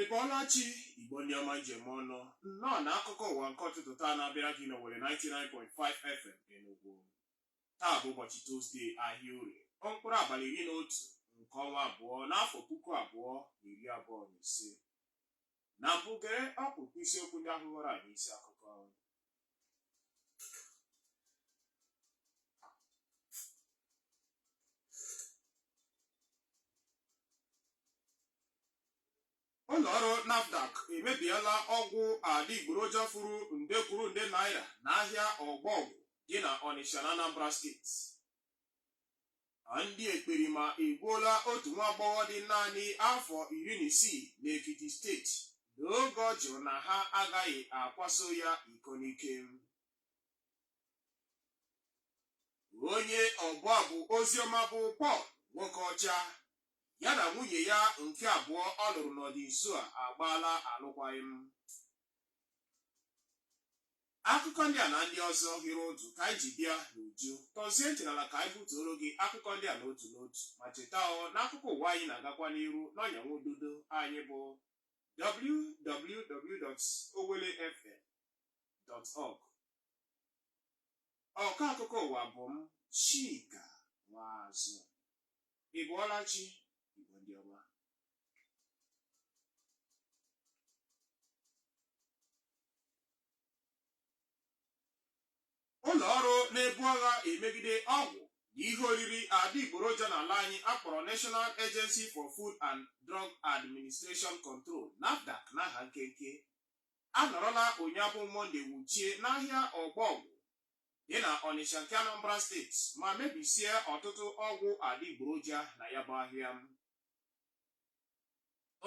ị bọọla chi igbo ndị ọma m ji eme ọnụ nnọọ na akụkọ ụwa nke ụtụtụ taa na-abịara gị n'owelle 99.5 fm enugwu taa bụ ụbọchị tuzdee ahịa orie ọ mkpụrụ abalị iri na otu nke ọnwa abụọ n'afọ puku abụọ na iri abụọ na ise Na mbụ gere ọkpụrụkpụ isiokwu ndị ahụ ghọrọ anyị isi akụkọ. ụlọ ọrụ NAFDAC emebiela ọgwụ adịgboroja furu nde kwuru nde naira n'ahịa ọgbọgwụ dị na Ọnịsha na Anambra steeti. ndị ekperima egbuola otu nwa agbọghọ dị naanị afọ iri na isii n'Ekiti steeti n'oge ọ jụrụ na ha agaghị akwaso ya iko n'ike onye ọbụ abụ oziọma bụ Paul Nwokeọcha ya na nwunye ya nke abụọ ọ lụrụ n'ọdịnso a agbaala alụkwaghịm Akụkọ ndị a na ndị ọzọ hiri ụdụ ka anyị ji bịa n'uju. Tọzie ntị n'ala ka anyị butuoro gị akụkọ ndị a n'otu n'otu. Ma cheta ọ na akụkọ ụwa anyị na-agakwa n'iru n'ọnya nwa ududo anyị bụ www.owellefm.org. Ọkọ akụkọ ụwa bụ m Chika Nwazụ. Ị bọọla chi Igbo ndị ọma. ụlọ ọrụ na-ebu agha emegide ọgwụ na ihe oriri adịgboroja n'ala anyị a kpọrọ National Agency for Food and Drug Administration Control NAFDAC n'aha nkenke anọrọla ụnyaahụ bụ mọnde wuchie n'ahịa ọgbọọgwụ dị na Ọnịsha nke Anambra steeti ma mebisie ọtụtụ ọgwụ adịgboroja na ya bụ ahịa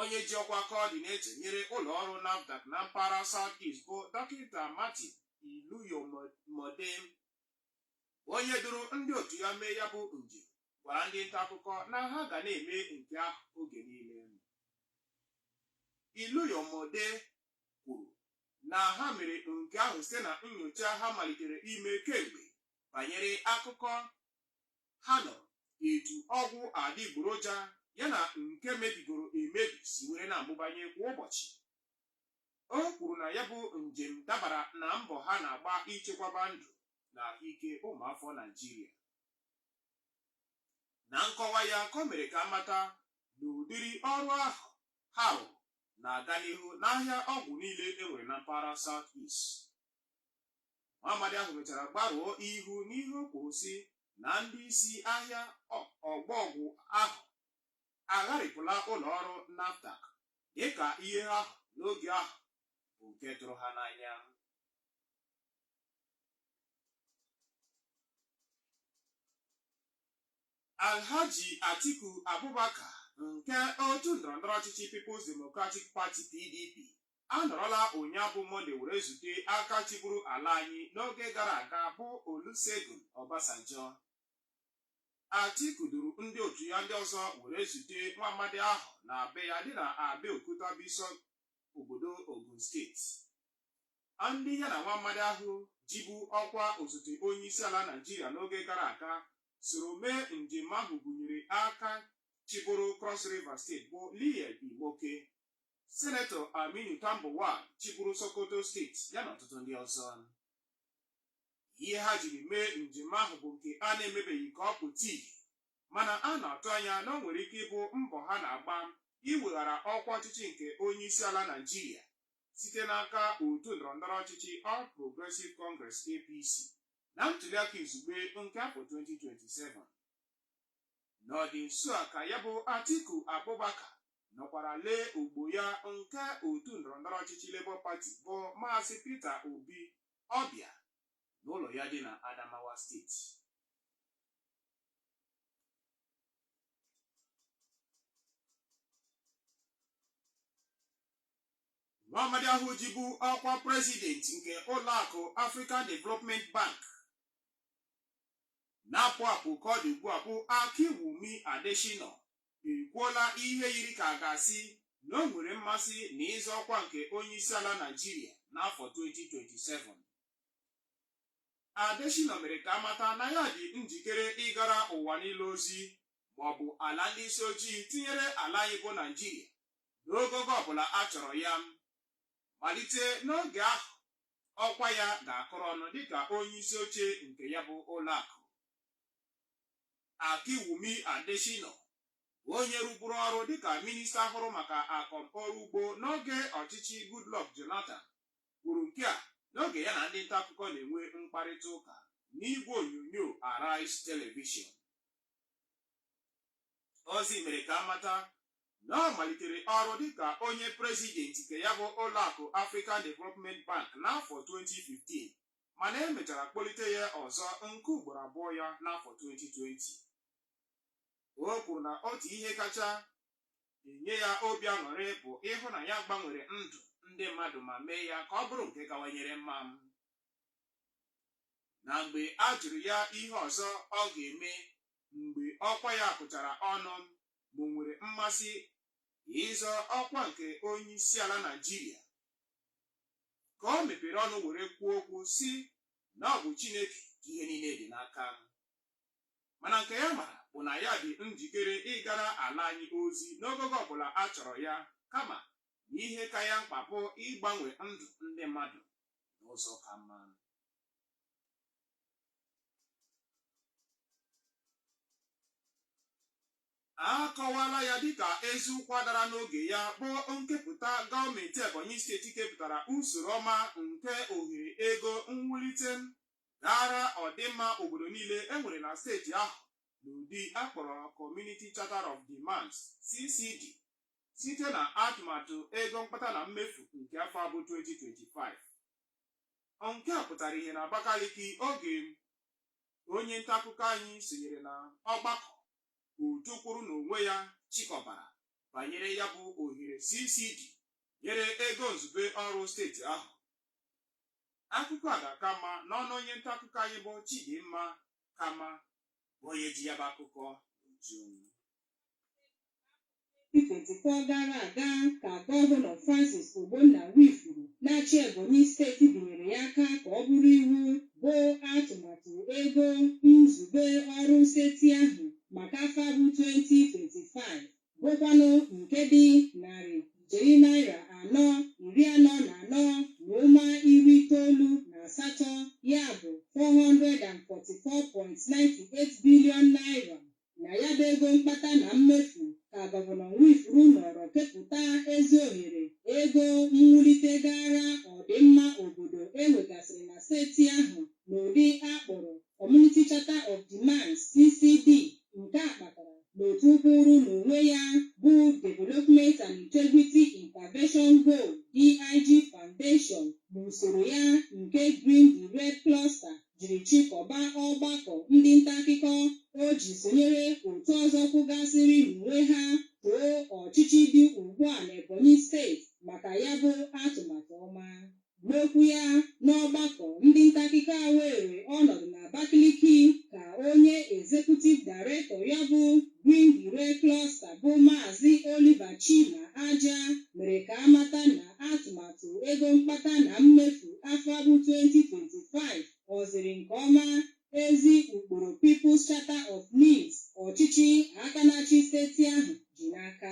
onye ji ọkwa kọọdinetọ nyere ụlọ ọrụ NAFDAC na mpaghara South East bụ dọkịta Martin Iluyomode onye duru ndị otu ya mee ya bụ njem gwara ndị nta akụkọ na ha ga na-eme nke ahụ oge niile Iluyomode kwuru na ha mere nke ahụ site na nyocha ha malitere ime kemgbe banyere akụkọ ha nọ, etu ọgwụ adịgboroja ya na nke mebigoro emebi si were na-amụbanye kwa ụbọchị. O kwuru na ya bụ njem dabara na mbọ ha na-agba ichekwaba ndụ na ahụike ụmụafọ Naịjirịa. Na nkọwa ya ka o mere ka a mata na ụdịrị ọrụ ahụ ha rụrụ na-aga n'ihu n'ahịa ọgwụ niile e nwere na mpaghara South East. nwa amadi ahụ mechara gbarụọ ihu n'ihe o kwuru sị na ndị isi ahịa Ọgbọ Ọgwụ ahụ agharịpụla ụlọ ọrụ NAFDAC dịka ihe ha hụ n'oge ahụ bụ nke tụrụ ha n'anya. Alhaji Atiku Abubakar nke otu ndọrọndọrọ ọchịchị People's Democratic Party PDP anọrọla ụnyaa bụ Mọnde were zute aka chịburu ala anyị n'oge gara aga bụ Olusegun Obasanjo. Atiku duru ndị otu ya ndị ọzọ were zute nwa amadi ahụ na be ya dị na Abeokuta bụ isi obodo Ogun steeti. Ndị ya na nwa amadi ahụ jibu ọkwa osote onye isi ala Naịjirịa n'oge gara aga soro mee njem ahụ gụnyere aka chịburu Cross River steeti bụ Liyel Imoke Sinetọ Aminu Tambuwal chịburu Sokoto steeti ya na ọtụtụ ndị ọzọ. Ihe ha jiri mee njem ahụ bụ nke a na-emebeghị ka ọ pụta ìhè mana a na-atụ anya na o nwere ike ịbụ mbọ ha na-agba iweghara ọkwa ọchịchị nke onyeisiala Naịjirịa site n'aka otu ndọrọndọrọ ọchịchị All Progressive Congress, APC, na ntuliaka izugbe nke afọ 2027. N'ọdị nso a ka ya bụ Atiku Abubakar nọkwara lee ogbo ya nke otu ndọrọndọrọ ọchịchị Labour Party bụ Maazị Peter Obi ọbịa n'ụlọ ya dị na Adamawa steeti. Nwaamadi ahụ jibu ọkwa prezidenti nke ụlọakụ African Development Bank na-apụ apụ ka ọ dị ugbu a bụ Akinwumi Adesina ekwuola ihe yiri ka a ga-asị na o nwere mmasị na ịzọ ọkwa nke onyeisiala Naịjirịa n'afọ 2027. Adesina mere ka a mata na ya dị njikere ịgara ụwa niile ozi maọbụ ala ndị isi ojii tinyere ala anyị bụ Naịjirịa n'ogogo ọbụla a chọrọ ya malite n'oge ahụ ọkwa ya ga-akụrụ ọnụ dịka onye isi oche nke ya bụ ụlọakụ Akinwumi Adesina onye rụburu ọrụ dịka minista hụrụ maka akọmọrụ ugbo n'oge ọchịchị Goodluck Jonathan kwuru nke a n'oge ya na ndị nta akụkọ na-enwe mkparịta ụka n'igwe onyonyo Arise Television ozi mere ka a mata na ọ malitere ọrụ dịka onye prezidenti nke ya bụ ụlọakụ African Development Bank n'afọ 2015 mana e mechara kpọlite ya ọzọ nke ugboro abụọ ya n'afọ 2020 o kwuru na otu ihe kacha enye ya obi aṅụrị bụ ịhụ na ya gbanwere ndụ ndị mmadụ ma mee ya ka ọ bụrụ nke kawanyere mma mana mgbe a jụrụ ya ihe ọzọ ọ ga-eme mgbe ọkwa ya kụchara ọnụ ma o nwere mmasị ịzọ ọkwa nke onyeisiala Naịjirịa ka o mepere ọnụ were kwuo okwu sị na ọ bụ Chineke ka ihe niile dị n'aka mana nke ya mara bụ na ya dị njikere ịgara ala anyị ozi n'ogogo ọbụla a chọrọ ya kama na ihe ka ya mkpa bụ ịgbanwe ndụ ndị mmadụ n'ụzọ ka mma a kọwaala ya dịka ezi ụkwa dara n'oge ya bụ nkepụta gọọmenti Ebonyi steeti kepụtara usoro ọma nke ohere ego mwulite gara ọdịmma obodo niile e nwere na steeti ahụ n'ụdị a kpọrọ Community Charter of Demands CCD site na atụmatụ ego mkpata na mmefu nke afọ a bụ 2025. Nke a pụtara ihe na Abakaliki oge onye ntaakụkọ anyị sonyere na ọgbakọ otu kwụrụ n'onwe ya chịkọbara banyere ya bụ ohere CCD nyere ego nzube ọrụ steeti ahụ. Akụkọ a ga-aka mma n'ọnụ onye ntaakụkọ anyị bụ Chidimma Kama bụ onye ji ya bụ akụkọ n'uju 2024 gara aga ka gọvanọ Francis Ogbonna Nwifuru na-achị Ebonyi steeti binyere ya aka ka ọ bụrụ iwu bụ atụmatụ ego nzube ọrụ steeti ahụ maka afọ a bụ 2025. bụkwanụ nke dị narị ijeri naira anọ iri anọ na anọ na ụma iri itoolu na asatọ ya bụ 444.98 bilion naira na ya bụ ego mkpata na mmefu ka gọvanọ Nwifuru nọrọ kepụta ezi ohere ego mwulite gara ọdịmma obodo e nwegasịrị na steeti ahụ n'ụdị a kpọrọ Community Charter of Demands, CCD, nke a kpatara n'otu kwụụrụ n'onwe ya bụ Development and Integrity Intervention Goal, DIG Foundation, n'usoro ya nke Green the Red Cluster jiri chịkọba ọgbakọ ndị nta akụkọ o ji sonyere otu ọzọ kwụgasịrị n'onwe ha too ọchịchị dị ugbu a n'Ebonyi steeti maka ya bụ atụmatụ ọma. N'okwu ya n'ọgbakọ ndị nta akụkọ a weere ọnọdụ n'Abakaliki ka onye Executive Director ya bụ Green the Red Cluster bụ Maazị Oliver Chima Ajah mere ka a mata na atụmatụ ego mkpata na mmefu afọ a bụ 2025 o ziri nke ọma ezi ụkpụrụ People's Charter of Needs ọchịchị aka na-achị steeti ahụ ji n'aka.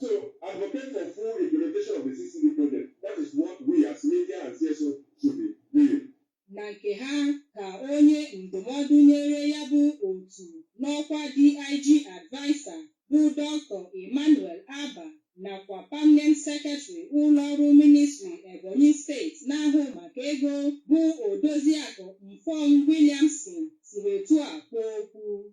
to advocate for full implementation of the CCD project. That is what we as media and CSO should be doing. na nke ha ka onye ndụmọdụ nyere ya bụ otu n'ọkwa DIG adviser bụ Dr. Emmanuel Abah nakwa permanent secretary ụlọọrụ ministry Ebonyi steeti na-ahụ maka ego bụ Odoziakụ Mfon Williamson siri etu a kwuo okwu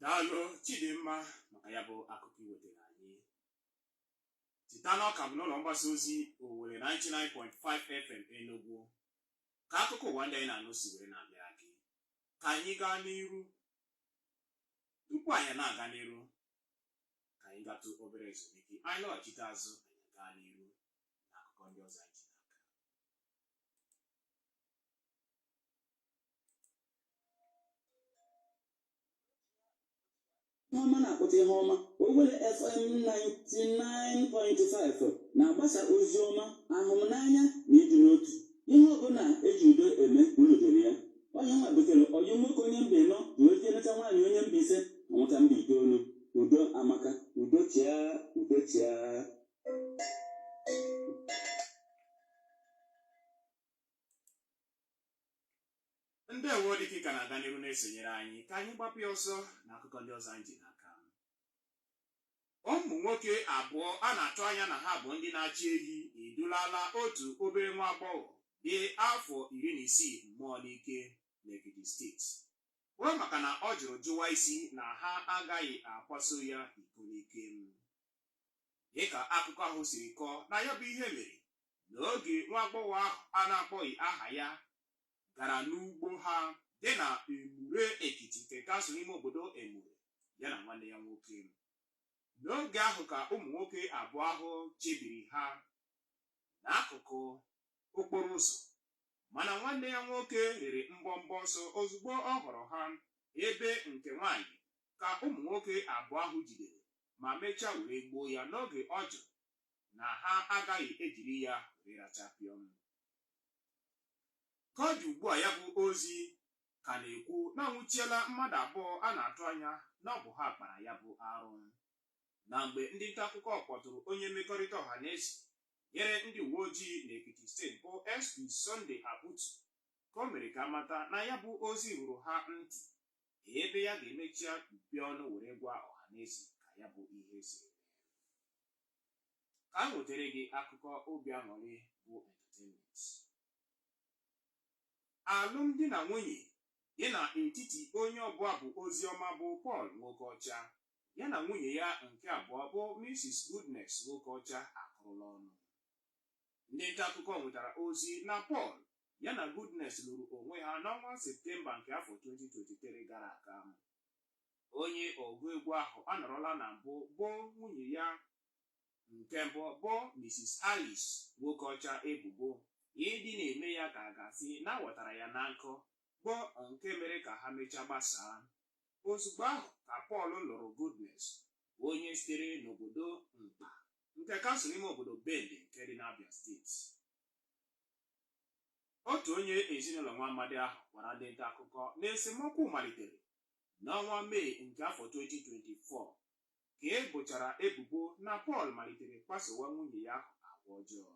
daalụ chidimma maka ya bụ akụkọ i wetara anyị cheta na ọ ka bụ n'ụlọ mgbasa ozi owelle 99.5 fm enugwu ka akụkọ ụwa ndị anyị na-anụ si were na-abịara gị ka anyị gaa n'iru tupu anyị na-aga n'iru ka anyị gatụ obere ezumike anyị lọghachite azụ anyị gaa n'iru na akụkọ ndị ọzọ anyị ji ọma na-akpụta ihe ọma Owelle FM 99.5 na-agbasa ozi ọma ahụmnanya na ịdị n'otu ihe ọbụla e ji udo eme unu doro ya onye nwa butere ọyị nwoke onye mba ịnọ na ozi emeta nwaanyị onye mba ise amụta mba itoolu udo amaka udo chịa udo chịa ndị ewe dịka ka na-aga n'ihu na-esonyere anyị ka anyị gbapụ ya ọsọ na akụkọ ndị ọzọ anyị ji n'aka ụmụ nwoke abụọ a na-atụ anya na ha bụ ndị na-achị ehi edulala otu obere nwa agbọghọ dị afọ iri na isii mmụọ n'ike n'Ekiti steeti kwuo maka na ọ jụrụ jụwa isi na ha agaghị akwaso ya iko n'ike dịka akụkọ ahụ siri kọọ na ya bụ ihe mere na oge nwa agbọghọ ahụ a na-akpọghị aha ya gara n'ugbo ha dị na Emure Ekiti nke kansụl ime obodo Emure ya na nwanne ya nwoke n'oge ahụ ka ụmụ nwoke abụọ ahụ chebiri ha n'akụkụ okporo ụzọ mana nwanne ya nwoke riri mbọmbọ ọsọ ozugbo ọ hụrụ ha ebe nke nwaanyị ka ụmụ nwoke abụọ ahụ jidere ma mechaa were gbuo ya n'oge ọ jụrụ na ha agaghị ejiri ya were racha pịọm. Ka ọ dị ugbu a ya bụ ozi ka na-ekwu na a nwụchiela mmadụ abụọ a na-atụ anya na ọ bụ ha kpara ya bụ arụ. Na mgbe ndị nta akụkọ kpọtụrụ onye mmekọrịta ọha na eze nyere ndị uwe ojii n'Ekiti steeti bụ SP Sunday Abutu ka o mere ka a mata na ya bụ ozi ruru ha ntị ebe ya ga-emechaa mepee ọnụ were gwa ọha na eze ka ya bụ ihe si ka m wetere gị akụkọ obi aṅụrị bụ entertainment alụmdi na nwunye dị n'etiti onye ọbụ abụ ozi ọma bụ Paul Nwokeọcha ya na nwunye ya nke abụọ bụ Mrs. Goodness Nwokeọcha akụrụla ọnụ ndị nta akụkọ nwetara ozi na Paul ya na Goodness lụrụ onwe ha n'ọnwa Septemba nke afọ 2023 gara aga Onye ọgụ egwu ahụ anọrọla na mbụ bo nwunye ya nke mbụ bụ Mrs. Alice Nwokeọcha ebubo ịdị na-eme ya ka a ga-asị na a ghọtara ya na nkụ bụ nke mere ka ha mechaa gbasaa. Ozugbo ahụ ka Paul lụrụ Goodness, onye sitere n'obodo Nkpa nke kansụl ime obodo Bende nke dị n'Abia steeti. Otu onye ezinụlọ nwa amadi ahụ gwara ndị nta akụkọ na esemokwu malitere N'ọnwa Mee nke afọ 2024 ka e bochara ebubo na Paul malitere kpasowa nwunye ya ahụ agwa ọjọọ.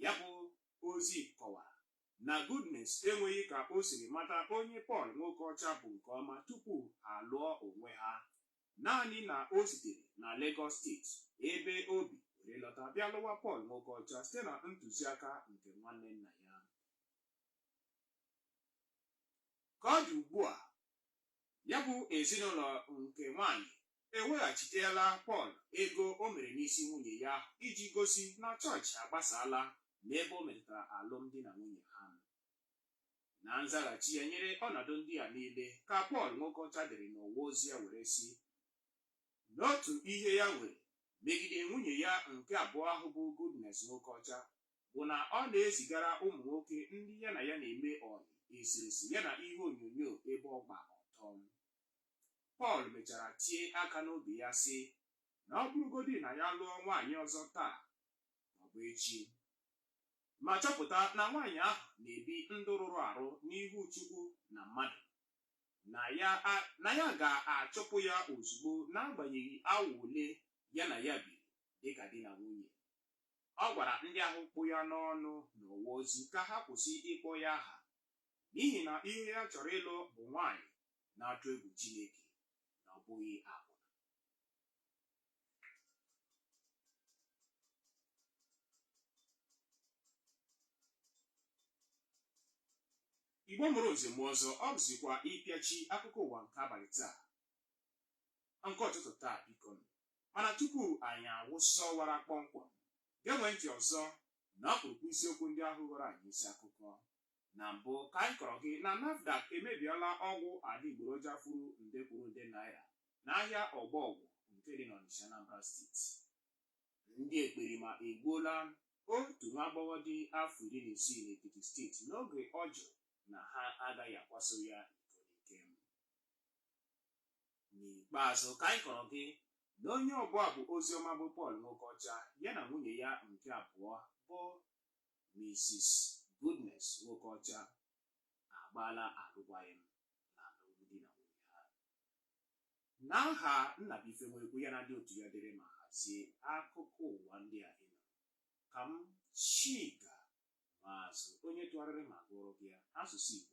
Ya bụ ozi kọwara na Goodness enweghị ka o siri mata onye Paul Nwokeọcha bụ nke ọma tupu ha alụọ onwe ha, naanị na o sitere na Legọs steeti ebe o bi were lọta bịa lụwa Paul Nwokeọcha site na ntụziaka nke nwanne nna ya. Ka ọ dị ugbu a, ya bụ ezinụlọ nke nwaanyị eweghachiteela Paul ego o mere n'isi nwunye ya iji gosi na chọọchị agbasaala n'ebe o metụtara alụmdi na nwunye ha. Na nzaghachi ya nyere ọnọdụ ndị a niile ka Paul Nwokeọcha dere n'ọwa ozi ya were sị na otu ihe ya nwere megide nwunye ya nke abụọ ahụ bụ Goodness Nwokeọcha, bụ na ọ na-ezigara ụmụ nwoke ndị ya na ya na-eme ọyị eserese ya na ihe onyonyo ebe ọ gba ọtọ Pọl mechara tie aka n'obi ya sị na ọ bụrụgodị na ya lụọ nwaanyị ọzọ taa maọbụ echi ma chọpụta na nwaanyị ahụ na-ebi ndụ rụrụ arụ n'ihu Chukwu na mmadụ na ya ga-achụpụ ya ozugbo n'agbanyeghị awa ole ya na ya biri dịka di na nwunye Ọ gwara ndị ahụ kpụ ya n'ọnụ n'ọwa ozi ka ha kwụsị ịkpọ ya aha n'ihi na ihe ya chọrọ ịlụ bụ nwaanyị na-atụ egwu Chineke na ọ bụghị akwụna. Igbo mụrụ nze mụọ ọzọ, ọ bụzikwa ịpịachi akụkọ ụwa nke abalị taa nke ọtụtụ taa biko nụ. Mana tupu anyị awụsa ọwara kpọmkwem, genwe ntị ọzọ na ọkpụrụkpụ isiokwu ndị ahụ ghọrọ anyị isi akụkọ. Na mbụ, ka anyị kọrọ gị na NAFDAC emebiela ọgwụ adịgboroja furu nde kwuru nde naira n'ahịa Ọgbọgwụ nke dị n'Ọnịsha Anambra steeti. Ndị ekperima egbuola otu nwa agbọghọ dị afọ iri na isii n'Ekiti steeti n'oge ọ jụrụ na ha agaghị akwaso ya iko n'ike. N'ikpeazụ, ka anyị kọrọ gị na onye ọbụ abụ oziọma bụ Paul Nwokeọcha ya na nwunye ya nke abụọ bụ Mrs. Goodness Nwokeọcha agbaala alụkwaghịm n'alụmdi na nwunye ha. N'aha Nnabuife Nwekwu ya na ndị otu ya dere ma hazie akụkọ ụwa ndị a ị nụrụ, ka m Chika Maazụ onye tụgharịrị ma gụọrọ gị ya n'asụsụ Igbo